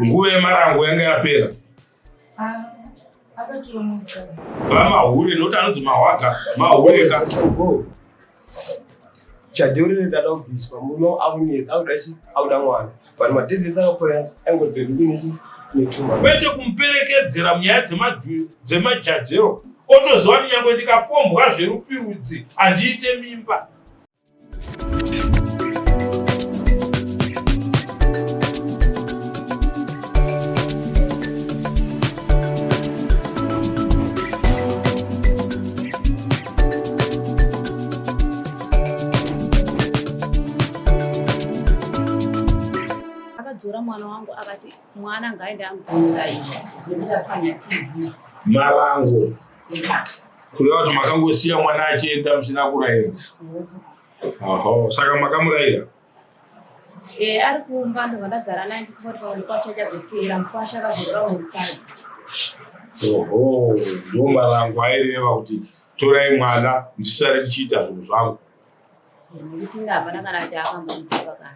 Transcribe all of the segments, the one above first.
Nguva yemarango yanga yapera. Ah, Vamahure noti anonzi mahwaga mahure ka. Chadhori ndada kubviswa muno aunetsa auda chi auda mwana but madhizisi akapora angoti bedu kunechi netuma. Kwete kumuperekedzera munyaya dzemajadhero otoziva kuti nyangwe ndikapombwa zverupirudzi handiite mimba. akadzora mwana wangu akati mwana ngaende ambouraiwa nekuti apwanya tv marango kureva kuti makangosiya mwana achienda musina kurayira aho saka makamurayira e ari kumba ndo vandagara naye ndifunga kuti pamwe kwacho achazoteera mukwasha akazorora murukadzi oho ndoma rangu aireva kuti torai mwana ndisare ndichiita zvinhu zvangu nekuti inga hapana kana kuti akambomuaa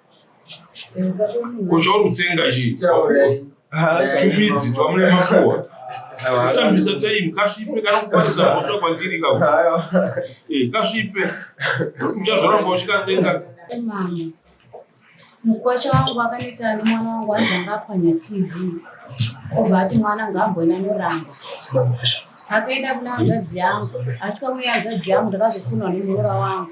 Kucho rutsenga chi. Tupidzi twamune makuwa. Kushandisa time kasvipe kanokukwanisa kutsva kwandiri ka. Eh kasvipe. Uchazoramba uchikatsenga. Mama. Mukwacha wangu wakanetsa mwana wangu wanzi anga apwanya TV. Obva ati mwana ngaambona noramba. Akaenda kuna hanzvadzi yangu. Achikauya hanzvadzi yangu ndakazofunwa nemuroora wangu.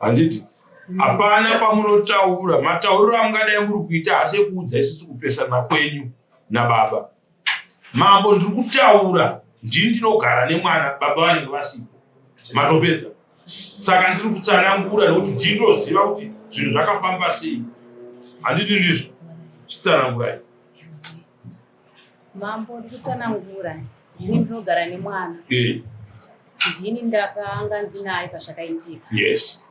handiti hapana pamunotaura matauriro amungadai muri kuita asi ekuudza isusu kupesana kwenyu nababa mambo ndiri kutaura ndini ndinogara nemwana baba vanenge vasipo matopedza saka ndiri kutsanangura nekuti ndinoziva kuti zvinhu zvakafamba sei handiti ndizvo chitsanangurai Mambo ndikutsanangura ndini ndinogara nemwana eh. ndini ndakanga ndinaye pazvakaitika yes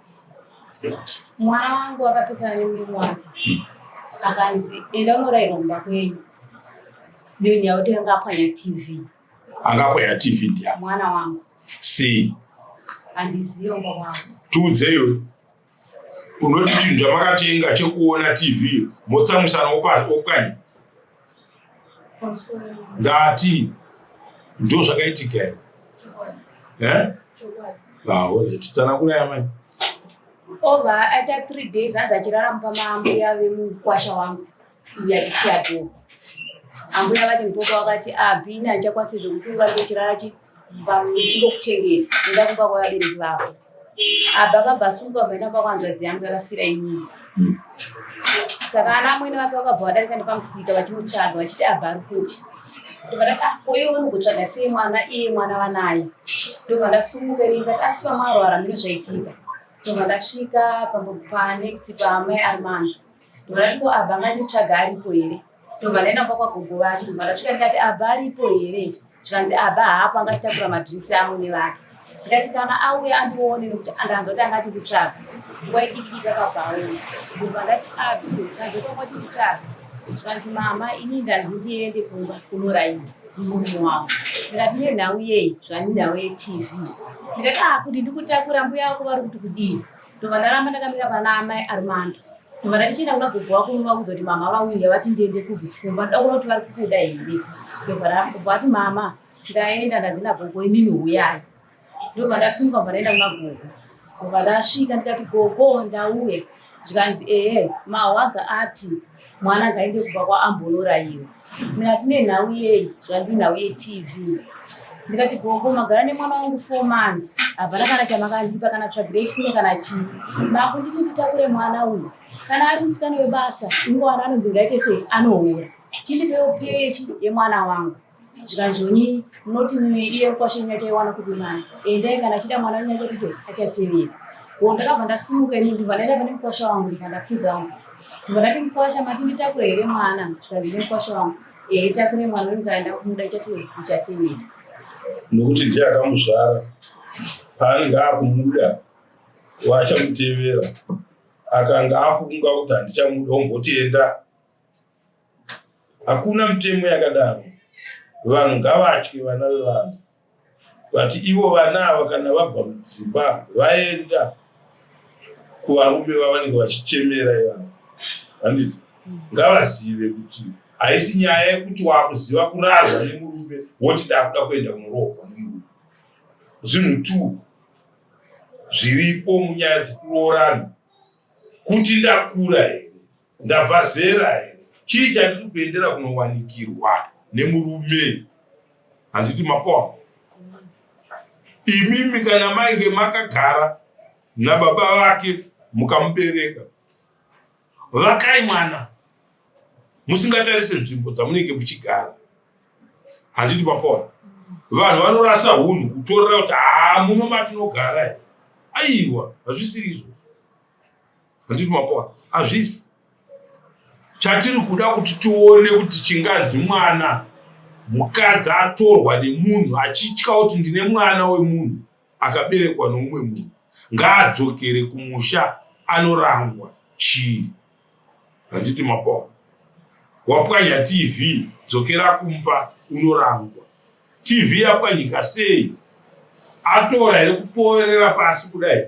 mwana wangu akapesana nemurume wake hmm. akanzi enda unorairwa mumba kwenyu ndini yakuti anga apwanya tv anga apwanya tv ndiya mwana wangu si handiziva mumba wangu tiudzeyo unoti chinhu chamakatenga chekuona tv motsamwisana opwanya ndati ndo zvakaitika here eh? vaone titsanangura yamai over aita three days hanzi achirara mupamaambuya vemukwasha wangu Iya chichato. Ambuya vati mukoko wakati abhini ah, achakwanisi zvekuti urambe uchirara chingokuchengeta enda kumba kwavabereki vako. Abha akabasuka vaenda kwako hanzvadzi yangu yakasira inini. Hmm. Saka ana amwene vake vakabva vadarika nepamusika vachimutsvaga vachiti abha ari kupi. Ndikati ah koyo unogotsvaga sei mwana iye mwana vanaye. Ndobva ndasumuka ini ndikati asi pamwarwara mune zvaitika. Ndobva ndasvika panext paamai Armando. Ndorashiko abba anga ndimutsvaga aripo here ndobva ndaenda mba kwagogo vacho ndobva ndasvika ndikati abba aripo here zvikanzi abba haapo anga achitakura madrinks amwene vake ndikati kana auye andione nokuti andanzwa kuti anga achinditsvaga nguva idikidiki akabvaona ndobva ndati abi kanzwa kwanga achinditsvaga zvikanzi mama ini ndanzi ndiende kumba kunoraini murume wangu ndikati nenhau yei zvanenhau yetv ndikati akuti ah, ndikutakura mbuya vako vari kuti kudii ndobva ndaramba ndakamira pana amai armando ndobva ndatichienda kuna gogo wako uno vakuudza kuti mama vauya vati ndiende kubi kumba ndoda kuona kuti vari kukuda here ndobva ndabva vati mama ndaenda ndanzi nagogo imimi huyai ndobva ndasumuka bva ndaenda kuna gogo ndobva ndasvika ndikati gogo ndauya zvikanzi ehe mawaga ati mwana ngaende kumba kwaambonorayiwa ndikati nenhau yei zvanzi nhau yetv ndikati gogo magara nemwana wangu four months havana kana chamakandipa kana tsvagirei kune kana chii makunditi nditakure mwana uyu kana ari musikana webasa ingowana anonzi ngaite sei anoora chindipewo pechi yemwana wangu zvikanzvoni munoti iye mukwashe wenyu achaiwana kupi mwana endai kana achida mwana wenyu achatize achatevera ko ndakabva ndasimuka ini ndibva ndaenda pane mukwasha wangu ndibva ndapfuga wangu ndibva ndati mukwasha mati nditakure here mwana zvikanzi nemukwasha wangu ehe takure mwana wenyu kana ndakumuda achatevera achatevera nokuti ndiye akamuzvara paanenge akumuda waachamutevera akanga afunga kuti handichamuda ombotienda Hakuna mutemo yakadaro vanhu ngavatye vana vevanhu but ivo vana ava kana vabva mudzimba vaenda kuvarume vavanenge vachichemera ivavo handiti ngavazive kuti haisi nyaya yekuti wakuziva kurarwa nemurume woti dakuda kuenda kunorohwa nemurume zvinhu two zviripo munyaya dzekuroorana kuti ndakura here Ndabva zera here? Chii chandiri kuendera kunowanikirwa nemurume? Handiti mapoa imimi kana mainge makagara nababa vake mukamubereka vakai mwana musingatarise nzvimbo dzamunenge muchigara handiti papona vanhu vanorasa hunhu kutorera kuti haa muno matinogara aiwa hazvisiri izvo handiti mapoa hazvisi chatiri kuda kuti tione kuti chinganzi mwana mukadzi atorwa nemunhu achitya kuti ndine mwana wemunhu akaberekwa noumwe munhu ngaadzokere kumusha anorangwa chii handiti mapoa wapwanya tv dzokera kumba unorangwa tv yapwanyika sei atora here kupoverera pasi kudai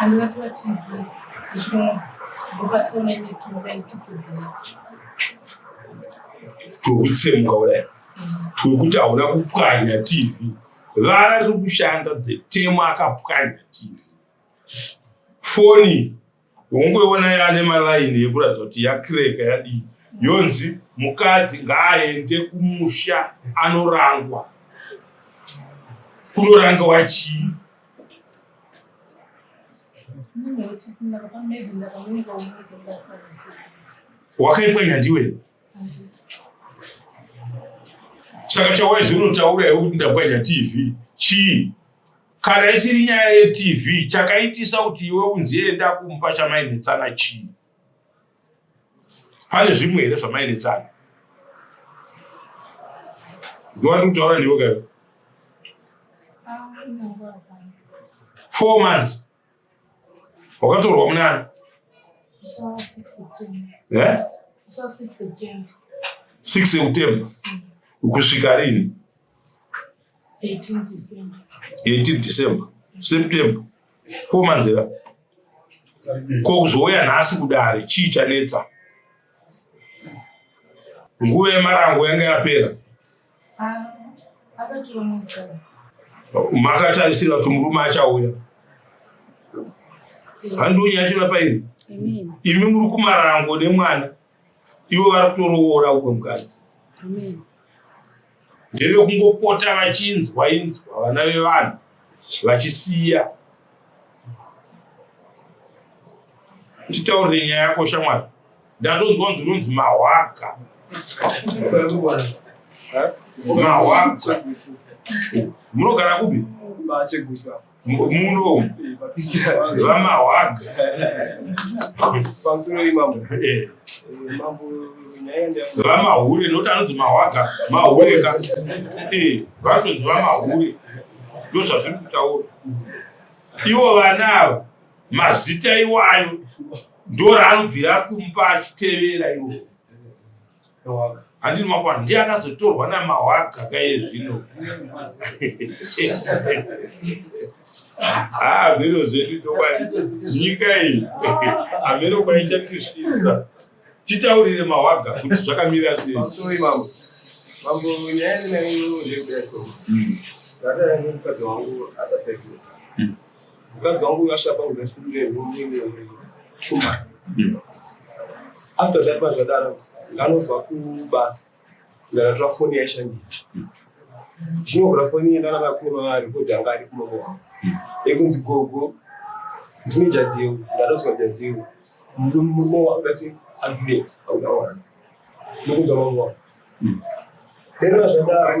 Andibatwa TV ichimwa ndibatwa nemitumba veitutubuya. Tokutsemuka kudai tiri kuti hauna kupwanya TV vara riri kushanda dzetemo akapwanya TV foni ungoiona yane malaini yekuratidza kuti yakireka yadii yonzi mukadzi ngaaende kumusha anorangwa kunoranga wachii wakaitwa nyandiwe saka chawaizi unotaura iwe kuti ndabwanya tv chii kana isiri nyaya yetv chakaitisa kuti iwe unzi enda kumba chamainetsana chii pane zvimwe here zvamaeretsana ndovati kutaura ndivo kayo four months wakatorwa munani six september kusvika rini 18 december september Pfuma nzira. Ko kuzouya nhasi kudare chii chanetsa? Nguva yemarango yanga yapera. Ah, Makatarisira kuti murume achauya. Handonyachira pairi. Imi muri kumarango nemwana. ivo vari kutoroora uko mukadzi ndeve kungopota vachinzwa inzwa vana vevanhu vachisiya titaurire nyaya yako shamwari ndatonzwa nzi unonzi mahwaga mahwaga munogara kupi muno vamahwaga vamahure nokuti anonzi mahwaga mahure ka vanonzi vamahure ndozvazviri kutaura ivo vana avo mazita iwayo ndoraanobvira kumupa achitevera iwo handiti makwana ndiye akazotorwa namahwaga kaye zvino haa zviro zvedu chokwadi nyika iyi hameno kwaichatisvisa titaurire mahwaga kuti zvakamira sei mambo nyaya ndinayo ndekudaso ndataura nemukadzi wangu akasaikura mukadzi wangu uyashapa uzafundeetumai hmm. after that mazvadaro nganobva kubasa ndakatora foni yaishandisa ndinovhura hmm. foni yendana vakuno arekodi anga ari kumoko wangu hmm. ekunzi gogo ndine jadeu ndatodzwa jadeu murume wangu ndasi ambulance auda wana nokunzwa mambo wangu then mazvadaro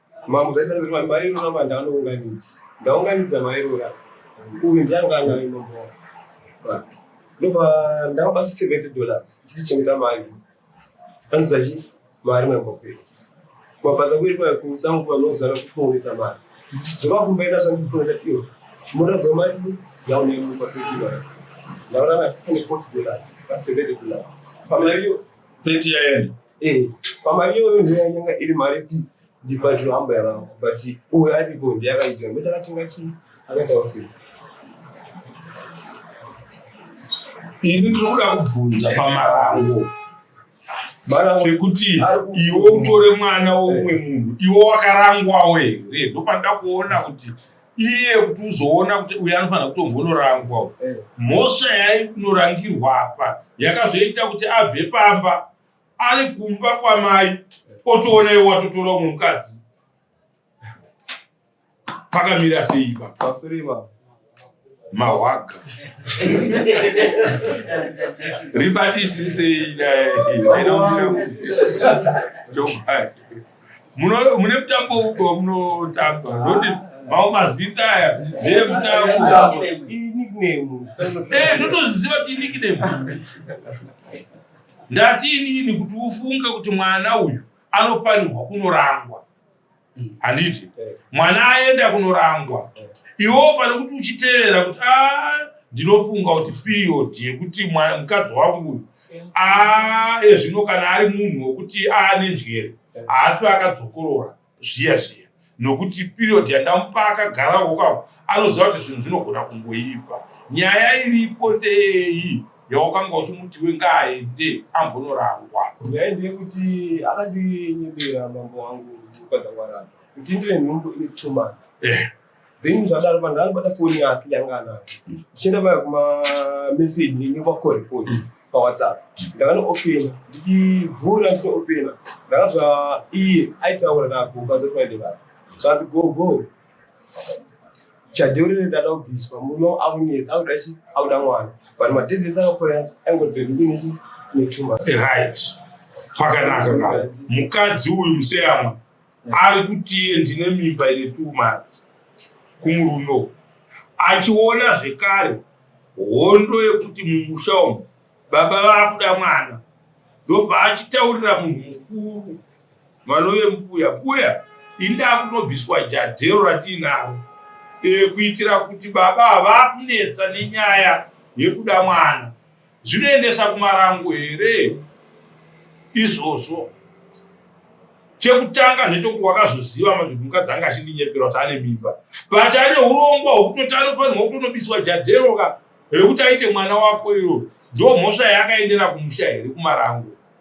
Mambo Gaitaziri vanhu mairora manda anounganidza. Ndaunganidza mairora. Uyu ndianga anayo mambo wavo. Ba. Ndobva ndavapa 70 dollars. Chiti chengeta mari. Anza chi mari mambo kwedu. Mabasa kwedu kwa kusangu kwa nozara kuponesa mari. Dzova kumba ina shangu kutonda iyo. Mura dzova mari yaone mu kwa peti mari. Ndaona na 40 dollars. Ba 70 dollars. Pamariyo 30 yaenda. Eh, pamari iyoyo ndiyo yanyanga iri mari yekuti ndibhadhiro hamba yavangu but uyo aripo ndiye akaitira mbe takatenga chii akaita usiku ini ndiri kuda kubvunza pamarango marango ekuti iwe utore mwana weumwe munhu iwe wakarangwawo here ndopanoda kuona kuti iye kuti uzoona kuti uyu anofanira kutombonorangwa eh. mhosva yainorangirwa apa yakazoita kuti abve pamba ari kumba kwamai otoona iwe watotora umwe mukadzi pakamira seiba mahwaga ribatisisei mune mutambo uko munotamba noti mau mazita aya ee mutambo ndotoziva kuti inikname ndati inini kuti ufunge kuti mwana uyu anofanirwa kunorangwa handiti mwana aenda kunorangwa iwo pane kuti uchitevera kuti a ah, ndinofunga kuti period yekuti mukadzi wangu uyu aye zvino kana ari munhu wokuti aane njere haaswe akadzokorora zviya zviya nokuti period yandamupa akagara kokako anoziva kuti zvinhu zvinogona kungoipa nyaya iripo ndeyei yawakanga uchimuti wengaende ambonorangwa nyaya ndeyekuti akandinyebera mambo wangu mukadzi wangu aramba kuti ndine nhumbu ine two months eh. then zvadaro vanhu vanobata foni yake yanga anayo ndichienda paya kumameseji nekwakorepod pawhatsapp ndakanoopena ndichivhura ndichinoopena ndakazva iye aitaura nagogo azotoende vaa zvanzi gogo chadheurere ndada kubviswa muno aunetsa auda chi auda mwana but madhezi ese akapfuura yati aingotibendikunechi netuma right pakanaka ka mukadzi uyu museyamwe ari kuti ndine mimba ine two months kumurume uku achiona zvekare hondo yekuti mumusha umu baba vakuda mwana ndobva achitaurira munhu mukuru vanove mbuya mbuya indakunobviswa jadhero ratiinaro e, kuitira kuti baba havakunetsa nenyaya yekuda mwana Zvinoendesa kumarango here izvozvo? Chekutanga ndechokuti wakazoziva manje kuti mukadzi anga achindinyepera kuti ane mimba but ane urongwa hwekutoti anofanirwa kutonobiswa jadhero ka hwekuti aite mwana wako iro ndomhosva yaakaendera kumusha here kumarango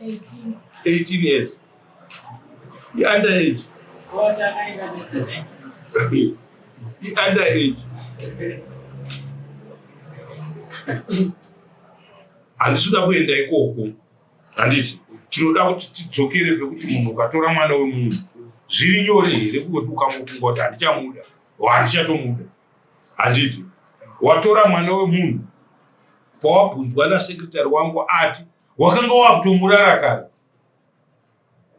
18 years iunder age iunder age handisi kuda kuenda ikoko handiti tinoda kuti tidzokere pekuti munhu ukatora mwana wemunhu zviri nyore here kungoti ukamufunga kuti handichamuda o handichatomuda handiti watora mwana wemunhu pawabvunzwa nasekretary wangu ati wakanga wakutomurara kare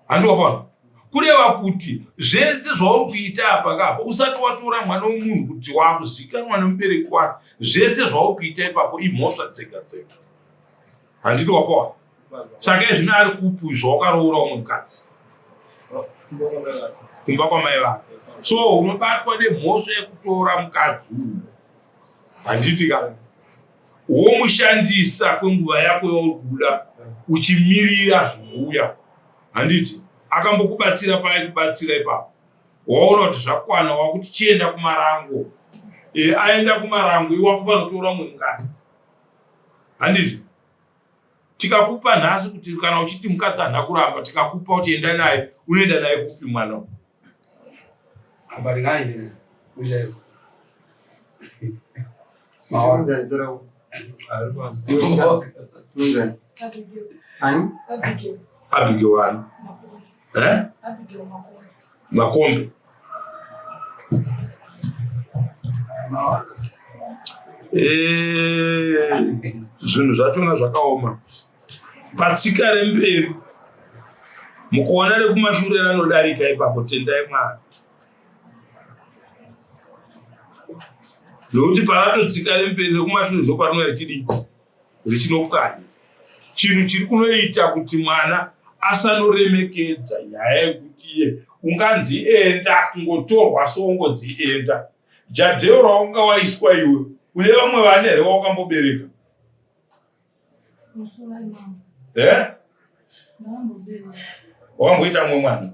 handi wakaona kureva kuti zvese zvauri kuita apa kapa usati watora mwana wemunhu kuti wakuzikanwa nemubereki wake zvese zvauri kuita ipapo imhosva dzega dzega handiti wakaona saka izvino ari kupi zvawakaroora umwe mukadzi kumba kwamai vake so unobatwa nemhosva yekutora mukadzi uyu handiti kana womushandisa kwenguva yako yauri kuda uchimirira zvinouya handiti akambokubatsira paye kubatsira ipapo waona kuti zvakwana wakuti chienda kumarango e, aenda kumarango iwakupa notora mumwe mukadzi handiti tikakupa nhasi kuti kana uchiti mukadzi hana kuramba tikakupa kuti enda naye unoenda naye kupi mwana uyu ambaringaendere kuchaiko abigiwani eh? makombi eh, zvinhu zvatona zvakaoma patsika remberi mukuona rekumashure ranodarika ipapo tendai mwana nokuti paratotsika remberi rekumashure ndoparinonga richidii richinopwanya chinhu chiri kunoita kuti mwana asanoremekedza nyaya yekuti iye unganzi enda kungotorwa so ungonzi enda jadheo raunga waiswa iwe une vamwe vana here waukambobereka eh? wakamboita mumwe mwana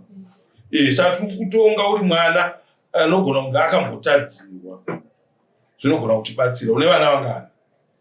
eh, saka tiri kutonga uri mwana anogona kunge akambotadzirwa zvinogona kutibatsira une vana vangani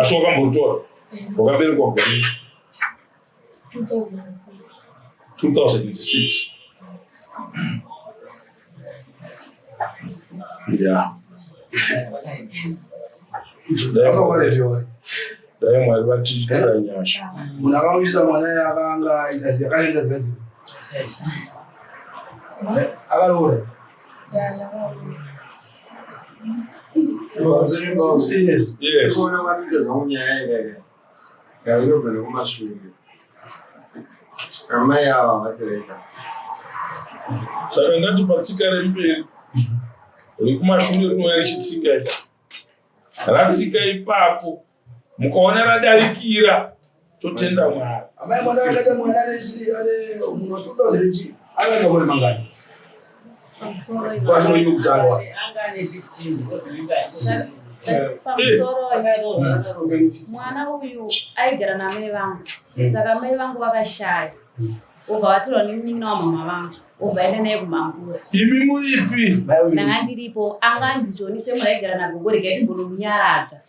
asi wakambotora wakaberekwa gore 2006 ya dai mwari vatiitira nyasha munhu akamuyisa mwana yakanga aita siyakaita dzadzi akaroora amai ava vasireka saka ndati patsika remberi rekumashure rinouya richitsika ratsika ipapo mukaona radarikira totenda mwari amai mwana akaita mwana nesi ane munhu watoda here chii akaenda kore mangani kwatinoyini kutarwa mwana uyu aigara namai vangu hmm. saka mai vangu vakashaya obva vatorwa nemunin'ina wamama vangu obva aenda naye kumangura imi muripi ndanga ndiripo anganzi joni semuraigara nagogo regai timbonomunyaradza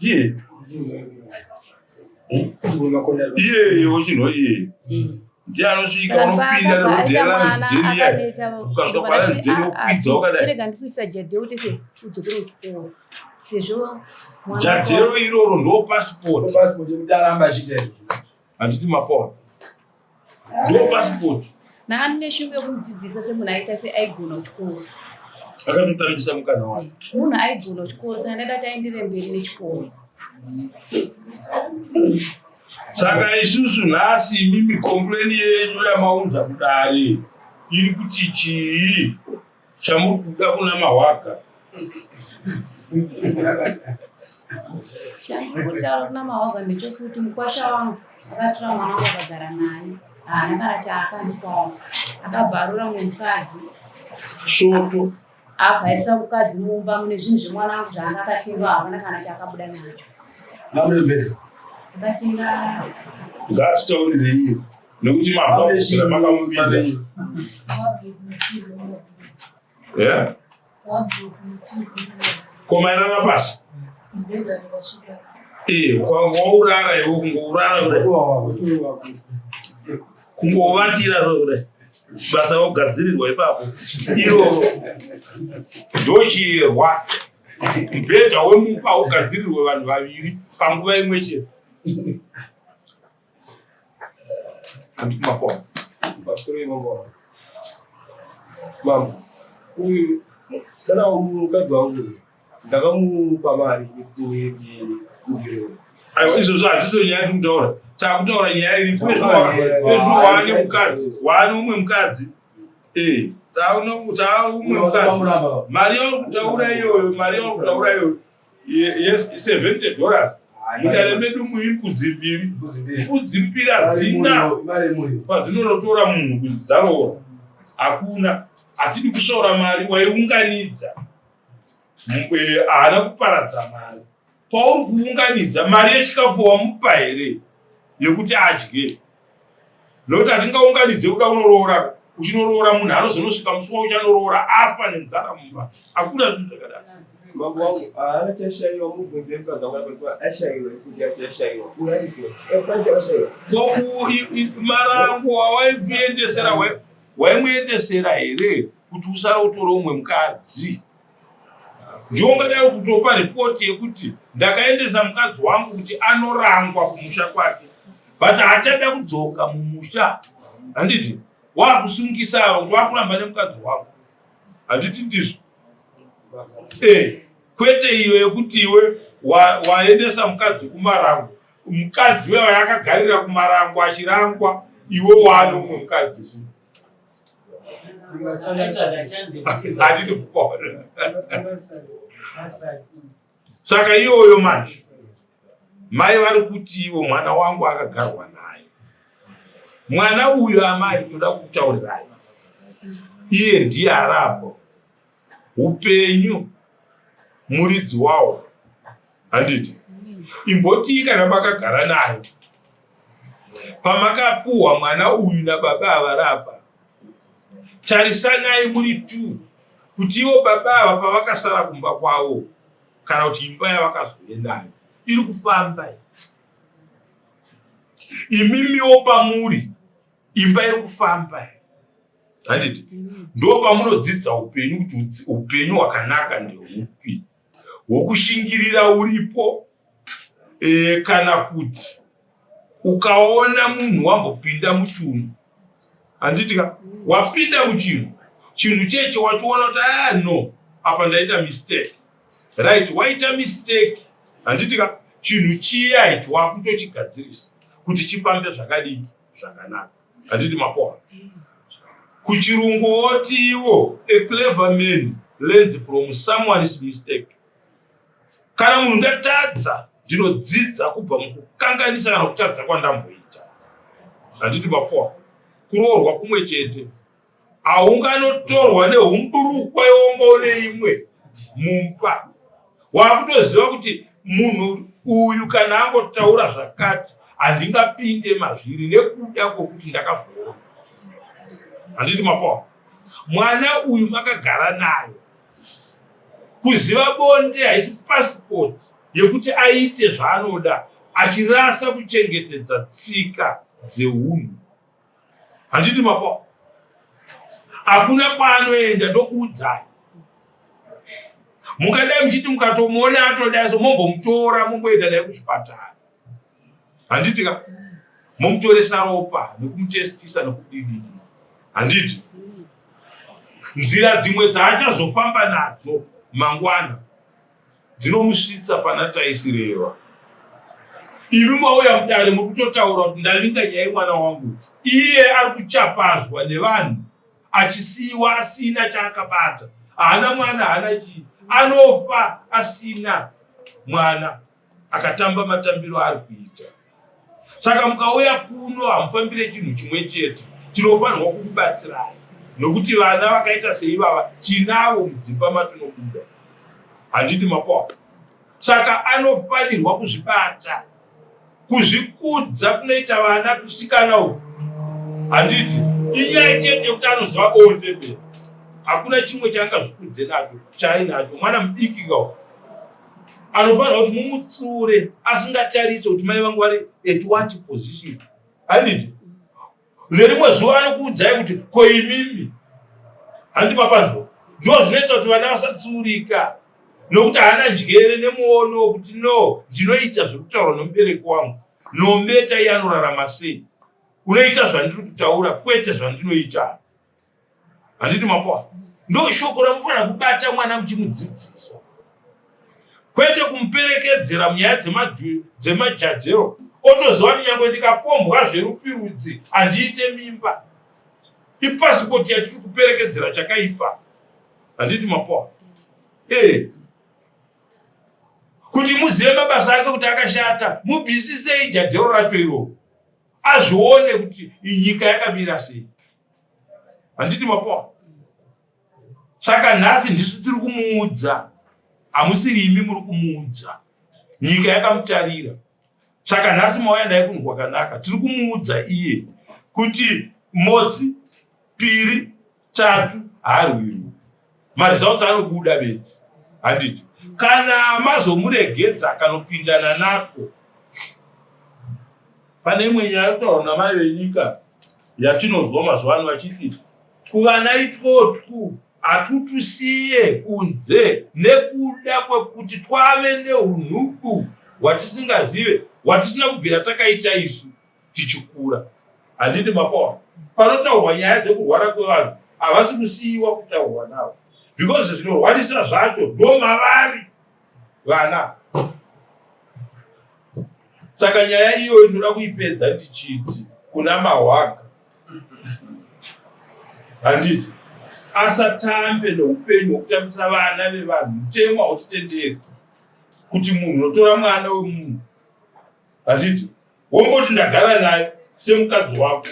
iye iye wochinwa iye ndiye anosvika unopinda nerodhera residheniya ukasvika pana residheni wokwidza wakadaijadewo iroro ndo pasipoti handiti mafon ndiwo pasipoti naani neshungu yekumudzidzisa semunhu aita seaigona kuchikoro akatotambisa mukana wake munhu aigona kuchikoro saka ndaida kuti aendere mberi nechikoro saka isusu nhasi imimi kompleni yenyu yamaunza kudare iri kuti chii Chamuri kuda kuna mahwaga. Chamuri kutaura kuna mahwaga ndechekuti mukwasha wangu akatora mwana wangu akagara naye. Haana kana chaakandipawo. Akabvarura mukadzi. Soto. Abvaisa mukadzi mumba mune zvinhu zvemwana wangu zvaanga akatenga havana kana chaakabuda nacho. Ngaatitaurirei nekuti mabvakuzira makamupinda yeah? komairara pasi kwaurara ivo kungourara kudai kungovatira zvo kudai basa vogadzirirwa ipapo iro ndochirwa mubhedha wemupa ugadzirirwe vanhu vaviri panguva imwe chete Makoma. Pastor Makoma. Mambo. Uyu kana mukadzi wangu ndakamupa mari kuti ndirewe. Aiwa izvozvo hazviso nyaya tiri kutaura. Takutaura nyaya iri waane mukadzi waane umwe mukadzi. Eh, taune umwe mukadzi. Mari yauri kutaura iyoyo, mari yauri kutaura iyoyo. yes 70 dollars mudare medu muri mbudzi mbiri mbudzi mbiri hadzina padzinonotora munhu kuti dzaroora hakuna hatidi kusvaura mari waiunganidza haana kuparadza mari pauri kuunganidza mari yechikafu wamupa here yekuti adye nokuti hatingaunganidze kuda unoroora uchinoroora munhu anozonosvika musi wauchanoroora afa nenzara mumba hakuna zvinhu zvakadaro mambo wangu haana chashaiwa mubvunze mkazi wangu aaa ashaiwa ifuti yati yashaiwa uyaizwe efanisi akashaiwa koku marango wawaikuendesera waimuendesera here kuti usara utore umwe mukadzi Ndiwo ungadai ukutopa report yekuti ndakaendesa mukadzi wangu kuti anorangwa kumusha kwake but haachada kudzoka mumusha handiti wakusungisa ava kuti wakuramba nemukadzi wangu handiti ndizvo eh, kwete iyo yekuti iwe waendesa wa mukadzi kumarango mukadzi wewa yakagarira kumarango achirangwa iwe waane umwe mukadzi saka iyoyo manje mai vari kuti ivo mwana wangu akagarwa naye mwana uyu amai toda kutaurirai iye ndiye arapo upenyu muridzi wawo handiti imbotii kana makagara nayo pamakapuhwa mwana uyu nababa avarapa tarisanai muri two kuti ivo baba ava pavakasara kumba kwavo kana kuti imba yavakazoendayo iri kufamba imimiwo pamuri imba iri kufamba handiti ndo pamunodzidza upenyu kuti upenyu hwakanaka ndeupi hwokushingirira uripo e, kana kuti ukaona munhu wambopinda muchunhu handitika wapinda muchinhu chinhu checho wachiona kuti aya ah, no apa ndaita mistake right waita mistake handitika chinhu chiya icho wakutochigadzirisa kuti chifambe zvakadii zvakanaka handiti mapora kuchirungu woti iwo a clever man learns from someone's mistake kana munhu ndatadza ndinodzidza kubva mukukanganisa kana kutadza kwandamboita handiti mapora kuroorwa kumwe chete aunganotorwa neumburukwa yombo neimwe mumba wakutoziva kuti munhu uyu kana angotaura zvakati handingapinde mazviri nekuda kwokuti ndakazviona handiti mafawa mwana uyu makagara naye kuziva bonde haisi pasipoti yekuti aite zvaanoda achirasa kuchengetedza tsika dzeunhu Handiti mapwa hakuna kwaanoenda ndokuudzai mukadai muchiti mukatomuona atodai so mombomutora momboenda naye kuzvipatara handiti ka momutoresa ropa nekumutestisa nekudini handiti nzira dzimwe dzaachazofamba nadzo mangwana dzinomusvitsa pana Taisireva. Imi mauya mudare muri kutotaura kuti ndavinga nyaya yemwana wangu, iye ari kuchapazwa nevanhu achisiiwa asina chaakabata, haana mwana, haana chii, anofa asina mwana, akatamba matambiro aari kuita. saka mukauya kuno hamufambire chinhu chimwe chete tinofanirwa kukubatsirai nokuti vana vakaita seivava tinavo mudzimba matinobuda handiti mapoka saka anofanirwa kuzvibata kuzvikudza kunoita vana kusikana uku handiti inyaya chete yekuti anoziva boondebere hakuna chimwe chaangazvikudze nacho chaainacho mwana mudiki kawo anofanira kuti mumutsiure asingatarise kuti mai vangu vari at what position handiti nerimwe zuva anokuudzai kuti ko imimi handi mapanzwa ndo zvinoita kuti vana vasatsiurika nokuti haana njere nemuono wekuti no ndinoita zvekutaura nomubereki wangu nometa iye anorarama sei unoita zvandiri kutaura kwete zvandinoita handiti mapoa ndo shoko ramufanira kubata mwana muchimudzidzisa kwete kumuperekedzera munyaya dzemajajero otoziva kuti nyangwe ndikapombwa zverupirudzi handiite mimba ipasipoti yatiri kuperekedzera chakaipa handiti mapoa ee eh. kuti muzive mabasa ake kuti akashata mubvisisei jajero racho iroo azvione kuti nyika yakamira sei handiti mapoa saka nhasi ndisu tiri kumuudza hamusiri imi muri kumuudza nyika yakamutarira saka nhasi mauya naye kunhu kwakanaka tiri kumuudza iye kuti mozi piri Tatu haarwirwi maresults anobuda bedzi handiti kana mazomuregedza akanopindana nako pane imwe nyaya kutaura namai venyika yatinonzwa mazuva ano vachiti kuvana itwotwu hatutwisiye kunze nekuda kwekuti twave neunhubu hwatisingazive hwatisina kubvira takaita isu tichikura handiti makaona panotaurwa nyaya dzekurwara kwevanhu havasi kusiiwa kutaurwa navo because zvinorwarisa zvacho ndomavari vana saka nyaya iyo inoda kuipedza ndichiti kuna mahwaga handiti asatambe noupenyu hwokutambisa vana vevanhu mutemo hautitenderi kuti munhu unotora mwana wemunhu handiti wongoti ndagara naye semukadzi wako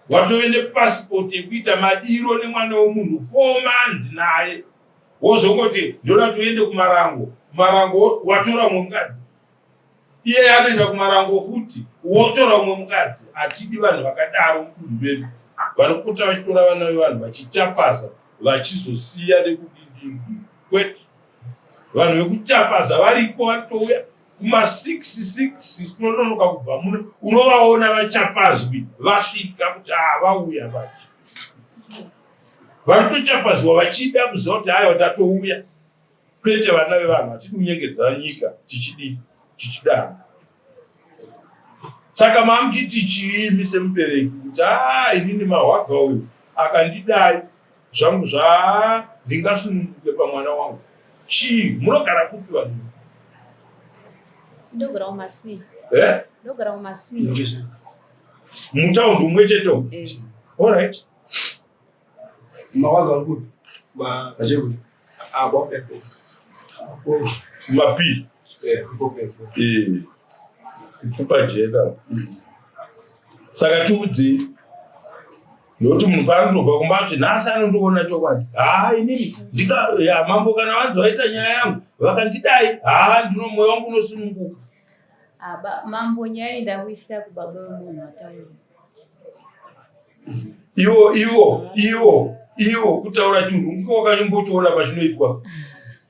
watove nepasipoti yekuita madiro nemwana wemunhu four months naye wozongoti ndoda toende kumarango marango watora umwe mukadzi iye anoenda kumarango futi wotora umwe mukadzi hatidi vanhu vakadaro mudunhu medu vanopota vachitora vana vevanhu vachichapaza vachizosiya nekudidii kwete vanhu vekuchapaza variko vatouya kuma 6 6 kunononoka kubva muno unovaona vachapazwi vasvika kuti haa vauya vachi vanotochapazwa vachida kuziva kuti aiwa tatouya kwete vana vevanhu hatidi kunyengedza nyika tichidii tichidana saka mamuchiti chiimi semubereki kuti haa inini mahwaga uyu akandidai Zvangu zvaa ndingasununguke pamwana wangu chii munogara kupi vanhu ndogara kumasi eh? ndogara kumasi mutaundi umwe cheto eh. allright mawaga vari kupi vachekuti abo effort mapi ipfupa jena saka tiudzei Ndokuti munhu paanotobva kumba kuti nhasi anondiona chokwadi. Haa inini ndika ya mambo kana vanzi vaita nyaya yangu vakandidai haa ndino mwoyo wangu unosununguka. Aba mambo nyaya iyi ndakuisira kubaba vemunhu wataura. Ivo ivo ivo ivo kutaura chunhu ngiko wakanyombochiona pachinoitwa.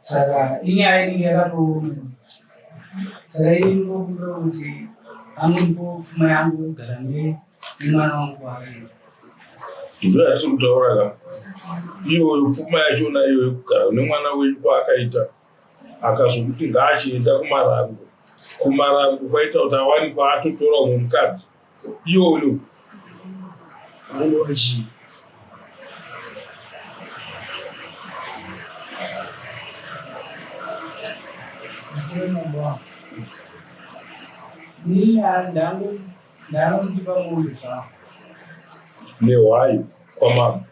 saka inyaya inenge yakatooma saka ini ndinokumbira kuti anondipo pfuma yangu yogara nemwana wangu waakaenda ndo yatiri kutaura ka iyoyo pfuma yachona iyoyo kugara nemwana wenyu kwaakaita akazokuti ngaachienda kumarango kumarango kwaita kuti awani kwaatotora umwe mukadzi iyoyo vanenge vachii nehwai kwamama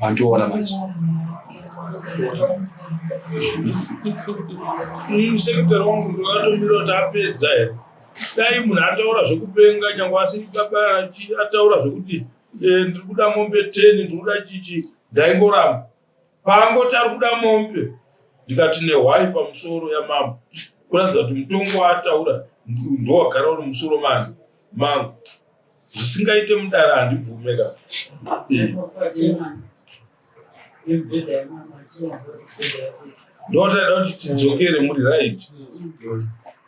vandiona manje sekitari wangu ndakatomira kuti apedza here dai munhu ataura zvekupenga nyange asiri baba ataura zvekuti eh, ndiri kuda mombe ten ndiri kuda chichi ndaingoramba Paangoti ari kuda mombe ndikati nehwai pamusoro yamambo kuratidza kuti mutongo waataura ndowagara uri musoro mani mangu zvisingaite mudara handibvume ka ndotaida kuti tidzokere muri right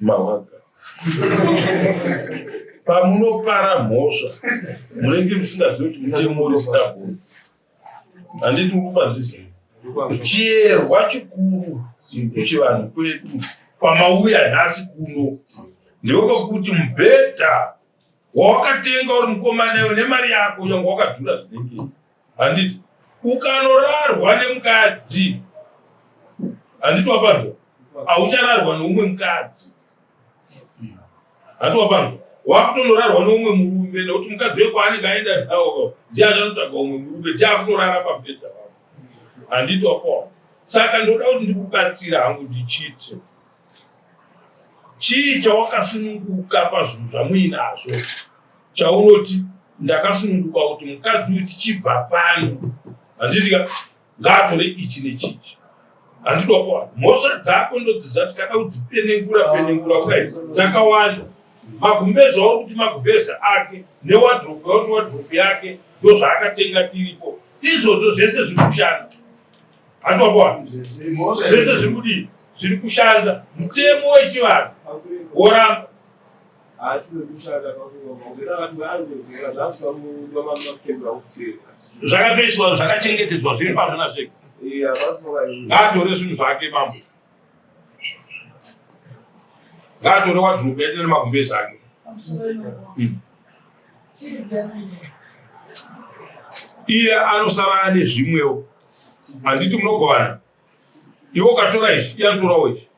mawaga pamunopara mhosva munenge musingazivi kuti munaemorisitagoni handiti ukubazizivi chiyerwa chikuru kuchivanhu kwedu kwamauya nhasi kuno ndiwo kwekuti mubhedha wawakatenga uri mukomana iwe nemari yako yange wakadhura zvinenge handiti ukanorarwa nemukadzi handiti wapanzwa hauchararwa neumwe mukadzi handiti wapanzwa wakutonorarwa neumwe murume nekuti mukadzi wekwaanenge aenda nawo ndiye achanotaga umwe murume ndiye akutorara pabhedha wavo handiti wapaona saka ndoda kuti ndikubatsira hangu ndichiti Chii chawakasununguka pazvinhu zvamuinazvo chaunoti ndakasununguka kuti mukadzi uyu tichibva pano handitika ngaatore ichi nechichi handida kuwana mhosva dzako ndodziziva kuti kana udzipenengura penengura kudai dzakawanda magumbezi auri kuti magumbezi ake newadropu yauti wadropu yake ndozvaakatenga tiripo izvozvo zvese zviri kushanda Anokwana. Zvese zviri kudii? Zviri kushanda. Mutemo wechivanhu woramba. Zvakatoiswa zvakachengetedzwa zviri pazvona zvega. Ngaatore zvinhu zvake mambo. Ngaatore wadhuropu yake nemagumbezi ake. Iye anosara ane zvimwewo. handiti munogovana iwe ukatora ichi iye anotorawo ichi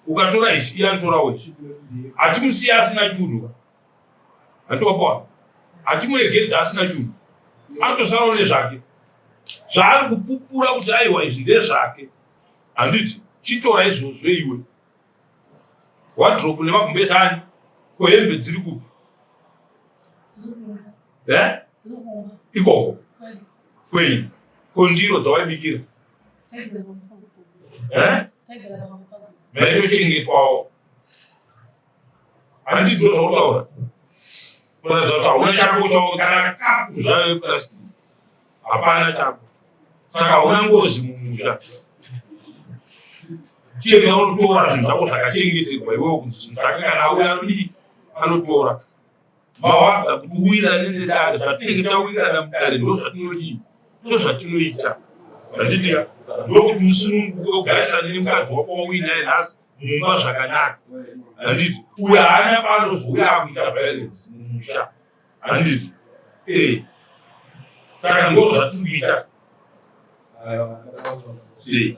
ukatora ichi iye anotorawo ichi hatimusiya asina chunhu handiwapawa hatimuregedza asina chunhu anotosarawo nezvake zvaari kupupura kuti aiwa izvi ndezvake handiti chitora izvozvo iwe wadropu nemagumbezi ani ko hembe dziri kupi eh? ikoko Kwei? Ko ndiro dzawaibikira? Eh? Maitochengetwawo. Handi ndiro zvautaura. Kuratidza kuti hauna chako chako kana kapu zvayo plastic. Hapana chako. Saka hauna ngozi mumusha. Chega unotora zvinhu zvako zvakachengeterwa iwewe kunzi zvakanga nauya ri anotora. Mawada kuti uwirane nedare, zvatinenge tawirirana mudare ndo zvatinodii, ndo zvatinoita zvachitika ndokuti usununguke ugarisane nemukadzi wako wauinaye nhasi mumba zvakanaka handiti uyo haana paanozouya akuita violence mumusha handiti ee eh. saka ndo zvatiri kuita ee eh.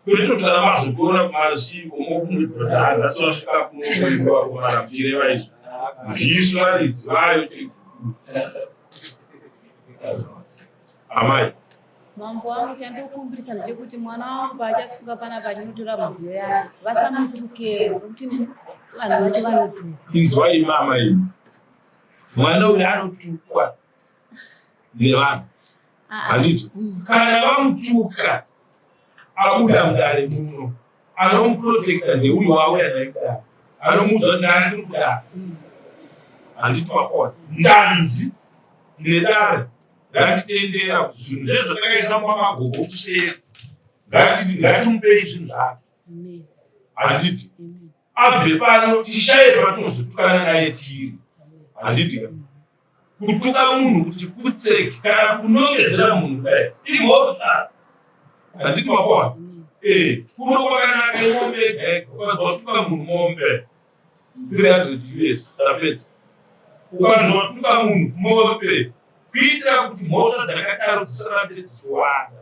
Kuritotara mazogona kumarisivi komokumudhodhara asi vasvika kunokuiwa kumarapire vaizvo ndisu varidzi vayo amai mambo wangu chandokumbirisa ndechekuti mwana wangu paachasunga panapa achinotora mudziyo yake vasamutukero nekuti vanhu vacho vanotuka inzwai mama imi mwana uyu anotukwa nevanhu handiti mm. kana vamutuka abuda mudare muno anomuprotekta ndeuyo wavo yadai kudaro anomuudza kuti ndani tiri kudaro handiti makona ndanzi nedare ngatitendera kuti zvinhu zve zvatakaisa mumamagogo kuseri ngatimupei zvinhu zvake handiti abve pano tishaye patinozotukana naye tiri handiti kutuka munhu kuti kutseki kana kunongedzera munhu kudai imhosva handiti makona ee kuno kwakanaka imombe egaega ukanzwa kutuka munhu mombe three hundred us tapedza ukanzwa kutuka munhu mombe kuitira kuti mhosva dzakadaro dzisarambe dzichiwanda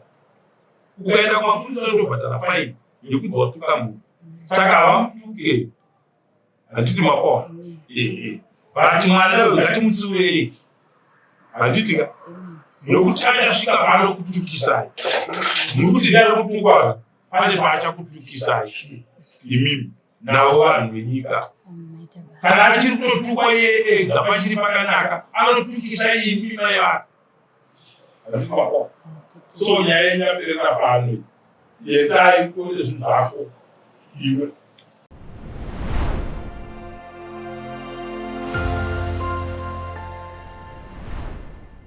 ukaenda kumapurisa unotobhadhara faini nekuti watuka munhu saka havamutuke handiti makoa ehe but mwana uyo ngatimutsiurei handiti ka nokuti achasvika paanokutukisai muri kuti ndari kutukwa pane paachakutukisai imimi navo vanhu venyika kana achiri kutotukwa iye ega pachiri pakanaka anotukisa imi mai vanhu so nyaya yenyu yaperera pano yendai kutore zvinhu zvako iwe